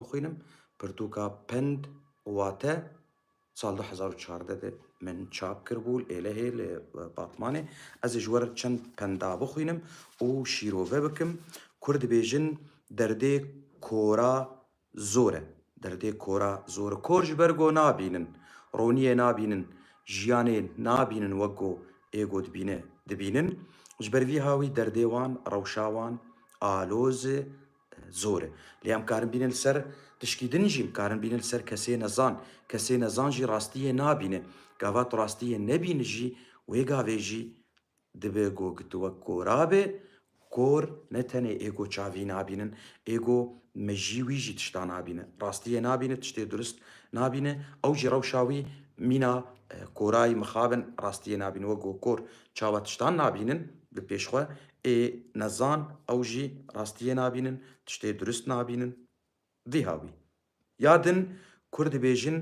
bixwînim. Pirtûka Pend û Wate sal du hezar û çardeh de min çap kiribû li Êlehê li Batmanê. Ez ê ji we re çend penda bixwînim û şîrove bikim. Kurd dibêjin derdê kora zor e. Derdê kora zor e. Kor ji ber ku nabînin, roniyê nabînin, jiyanê nabînin wek ku ê ku dibîne dibînin. Ji ber vî ha wî derdê wan, rewşa wan aloz e. zor e. Lê em karin bînin li ser tişkî din jî, em karin bînin li ser kesê nezan. Kesê nezan jî rastiyê nabîne. Gava tu rastiyê nebînî jî, wê gavê jî dibe ku tu wek kora be. Kor ne tenê êgo çavî nabînin, êgo me jî wî jî tişta nabîne. Rastiyê nabîne, tiştê durist nabîne. Ew jî rewşa wî mîna korayî mixabin rastiyê nabîne. Wek ku kor çawa tiştan nabînin bi pêş xwe, Ê nezan ew jî rastiyê nabînin, tiştê durist nabînin. Diha wî. Ya din Kurd dibêjin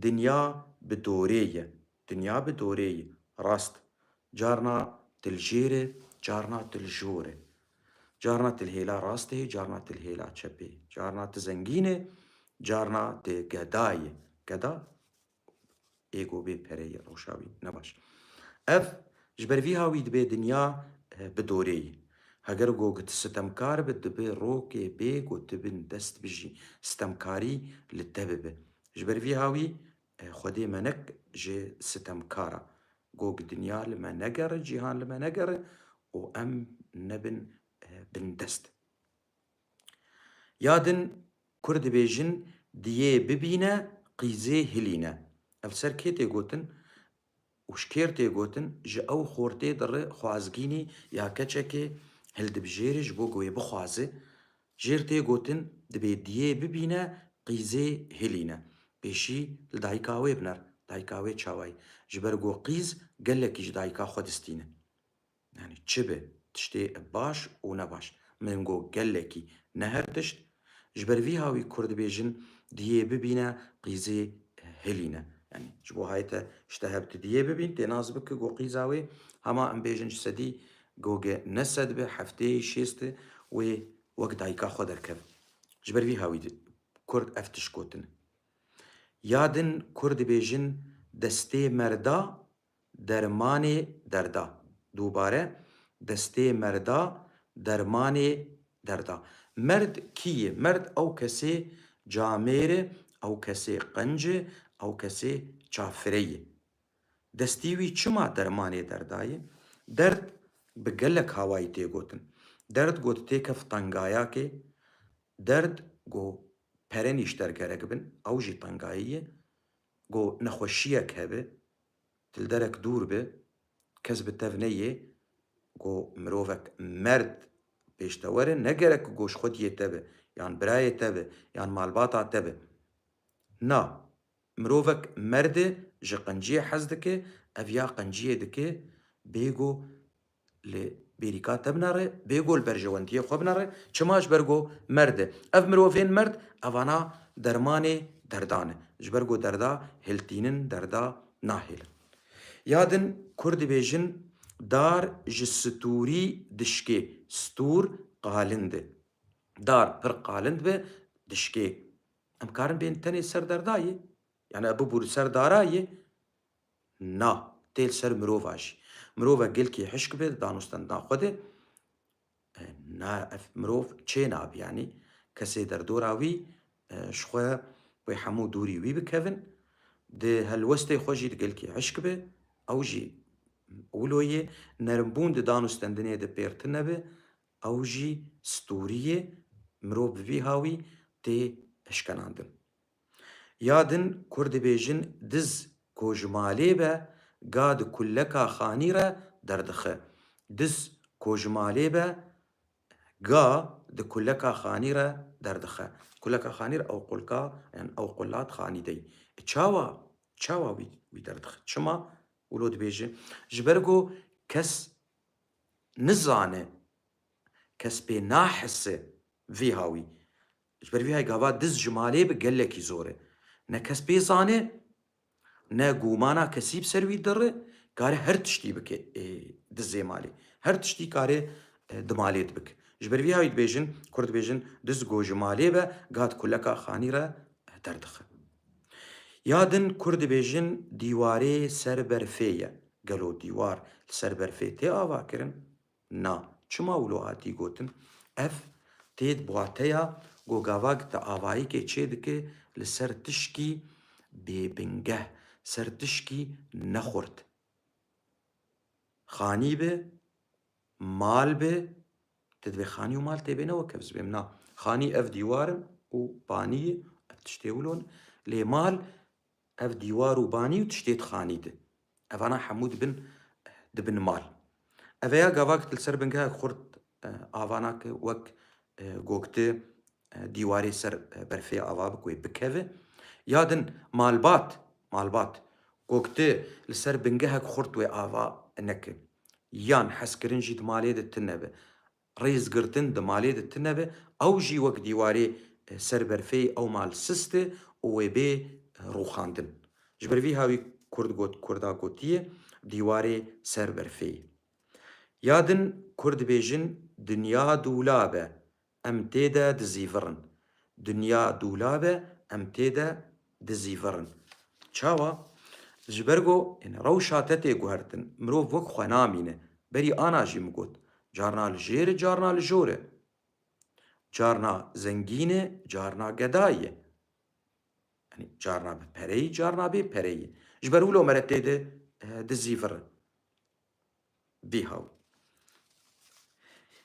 dinya bi dorê ye. Dinya bi dorê ye. Rast. Carna tilgêr e, carna tiljor e. Carna tilhêla rastê ye, carna tilhêla çepê ye. Carna ti zengîn e, carna ti geda ye. Geda Êgo bê pere yê rewşa wî ne baş. Ev ji ber vî ha wî dibê dinya bi dorê yî. Heger go ku tu sitemkar bi dibi rokê bê ku tu bin dest bijî sitemkarî li te bibi. Ji ber vî ha wî Xwedê me nek ji sitemkar a. Go ku dinya li me negere, cîhan li me negere û em nebin bindest. Ya din Kurd dibêjin diyê bibîne qîzê hilîne. Ev ser kê tê gotin û ji kêr tê gotin? Ji ew xortê diri xwazgînî ya keçekê hildibijêrî ji bo ku wê bixwaze. Jêr tê gotin dibê diyê bibîne qîzê hilîne. Pêşî li dayika wê biner, dayika wê çawayî. Ji ber ku qîz gelekî ji dayika xwe distîne. Yanî çi be, tiştê baş û ne baş. Min got gelekî, ne her tişt. Ji ber vî ha wî kur dibêjin, diyê bibîne qîzê hilîne. Yanî ji bo hay te ji te hev ti diyê bibîn, tê nas bike ku qîza wê hema em bêjin ji sedî goge ne sed be, hefteyê şêst e, wê wek dayika xwe derkeve. Ji ber vî ha wî kurd ev tişt gotin. Ya din kur dibêjin destê merda dermanê derda. Dubare, destê merda dermanê derda. Merd kî ye? Merd ew kesê camêr e, ew kesê qinc e, ew kesê çafire ye. Destê wî çima dermanê derda ye? Derd bi gelek hawayî tê gotin. Derd got tê kef tengayakê, derd got pere nîşter gerek bin, ew jî tengayî ye. Ku nexweşiyek hebe, tu li derek dûr be, kes bi tev neyê, ku mirovek merd pêş te were, ne gerek ku goşxwediyê te be, yan birayê te be, yan malbata te be. Na, mirovek merd e, ji qinciyê hez dike, ev ya qinciyê dike, bêgo Lê bêrîka te bina rê, bêgol berjewendiyê xwe bina rê, çima ji ber ku merd e. Ev mirovên merd evana dermanê derdan e. Ji ber ku derda hiltînin, derda nahêlin. Ya din kurd dibêjin dar ji stûrî dişkê, stûr qalind e. Dar pir qalind be dişkê. Em karin bên tenê ser derda yê. Yanî ev bibû li ser dara yê. Na, tê li ser mirovan jî. Mirovek gilkî hişk bê di danûstendina xwe de, na ev mirov çê nabî yanî kesê derdora wî ji xwe wê hemû dûrî wî bikevin, di helwestê xwe jî di gilkî hişk bê, ew jî wilo yê, nerimbûn di danûstendinê de pêr tune be, ew jî stûrî yê, mirov bi vî hawî tê hişkenandin. Ya din Kurd dibêjin diz ku ji malê be ga di kuleka xanî re derdixe. Diz ku ji malê be ga di kuleka xanî re derdixe. Kuleka xanî re ew qulka yan ew qulat xanî de yî. Çawa? Çawa wî wî derdixe? Çima wilo dibêje? Ji ber ku kes nizane, kes pê nahise vî hawî. Ji ber vî hay gava diz ji malê bi gelekî zor e. Ne kes pê zane, ne gûmana kesî bi ser wî dir e, kare her tiştî bike ê dizê malê. Her tiştî kare di malê de bike. Ji ber vî hay dibêjin, kurd dibêjin, diz go ji malê be, ga di kuleka xanî re derdixe. Ya din kurd dibêjin dîwarê ser berfê ye. Gelo dîwar li ser berfê tê avakirin? Na, çima wilo hatî gotin? Ev tê di wateya ku gavak di avayikê çêdike li ser tişkî bêbingeh, ser tişkî nexurt. Xanî be, mal be, tu divê xanî û mal tê bê ne wek ev zibêm. Na, xanî ev dîwar in û banî ye, ev tiştê wilo ne. Lê mal ev dîwar û banî û tiştê di xanî de. Evana hemû dibin dibin mal. Eveya gavak li ser bingehek xurt ava nake wek gogti dîwarê ser berfê ava bi ku wê bikeve. Ya din malbat malbat gogti li ser bingehek xurt wê ava neke. Yan hezkirin jî di malê de tune be. Rêzgirtin di malê de tune be, ew jî wek dîwarê ser berfeyê ew mal siste û wê bê rûxandin. Ji ber vî ha wî Kurd got Kurda gotiye dîwarê ser berfeyê. Ya din Kurd dibêjin dinya dûla be em tê de dizîvirin, dinya dûla be em tê de dizîvirin. Çawa? Ji ber ku rewşa te tê guhertin, mirov wek xwe namîne. Berî ana jî min got, carna li jêr e carna li jor e. Carna zengîn e carna geda ye. Yanî carna bi pereyî carna bê pereyî. Ji ber wilo mere tê de dizîvirin. Bîhaw.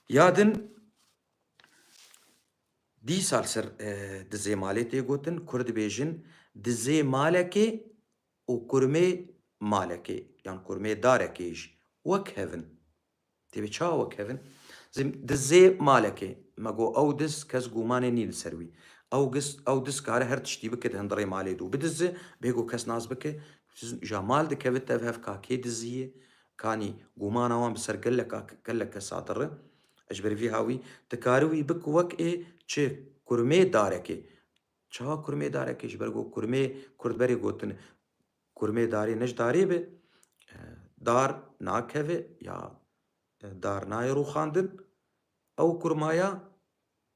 Ya din dî sal ser di zê malê tê gotin, kur dibêjin di zê malekê û kurmê malekê yan kurmê darekê jî wek hev in. Têbê çawa wek hev in? Zê di zê malekê me got ew diz kes gûmanê nîn li ser wî. Ew giz ew diz kare her tiştî bike di hindirê malê dû bidize, bêgo kes nas bike Ja mal dikevit tev hev ka kê diziyê, kanî gumana wan bi ser geleka kelleke sadir e. Ji ber vî hawî ti karî wî bik wek ê çi kurmê darekê. Çawa kurmê darekê? Ji ber ku kurmê kurd berê gotin kurmê darê ne ji darê be. Dar nakeve ya dar nayê rûxandin. Ew kurmaya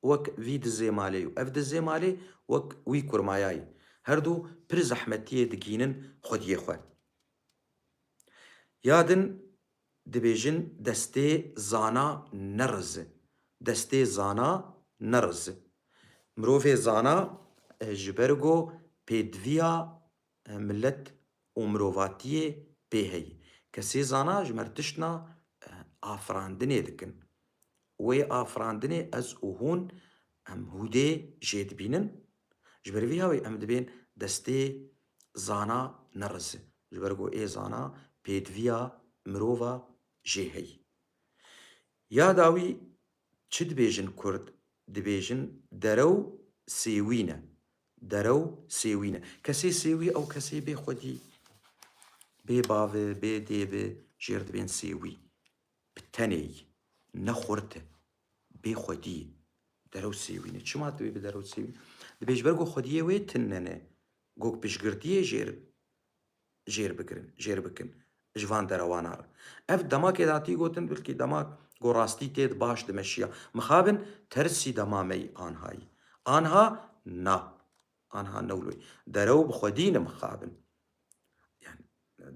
wek vî dizê malê û ev dizê malê wek wî kurmayayî. Her du pir zehmetiyê digihînin xwediyê xwe. Ya din dibêjin destê zana nerizi. Destê zana nerizi. Mirovê zana ji ber ku pêdiviya Milet û mirovatiyê pê heye. Kesê zana ji mer tiştna afirandinê dikin. Wê afirandinê ez û hûn em hûdê jê dibînin. Ji ber vî hawê em dibên destê zana nerize. Ji ber ku ê zana pêdiviya mirova jê heye. Ya dawî Çi dibêjin kurd? Dibêjin derew sêwîn e. Derew sêwîn e. Kesê sêwî ew kesê bê xwedî, bê bavê, bê dê bi jêr dibên sêwî. Bi tenê yî. Ne xurt e. Bê xwedî yî. Derew sêwîn e. Çima dibê bi derew sêwîn? Dibê ji ber ku xwediyê wê tinne ne. Gog piştgirtiyê jêr jêr bigirin, jêr bikin ji van derewana re. Ev demakê datî gotin bilkî demak ku rastî têd baş dimeşiya. Mixabin tersî dema me yî anhayî. Anha na. Anha newloyî. Derew bi xwedî ne mixabin. Yani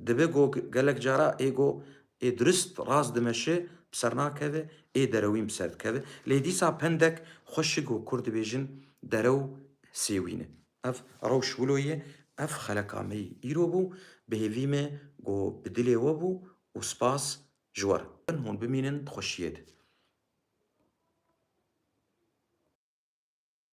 dibe ku gelek cara ê ku ê dirist rast dimeşe bi ser nakeve, ê derewîn bi ser dikeve. Lê dîsa pendek xweşik ku kur dibêjin derew sêwîn e. Ev rewş wilo ye, ev xeleka me yî îro bû, bi hêvî me ku bi dilê we bû û spas ji we re. Bin hûn bimînin di xweşiyê de.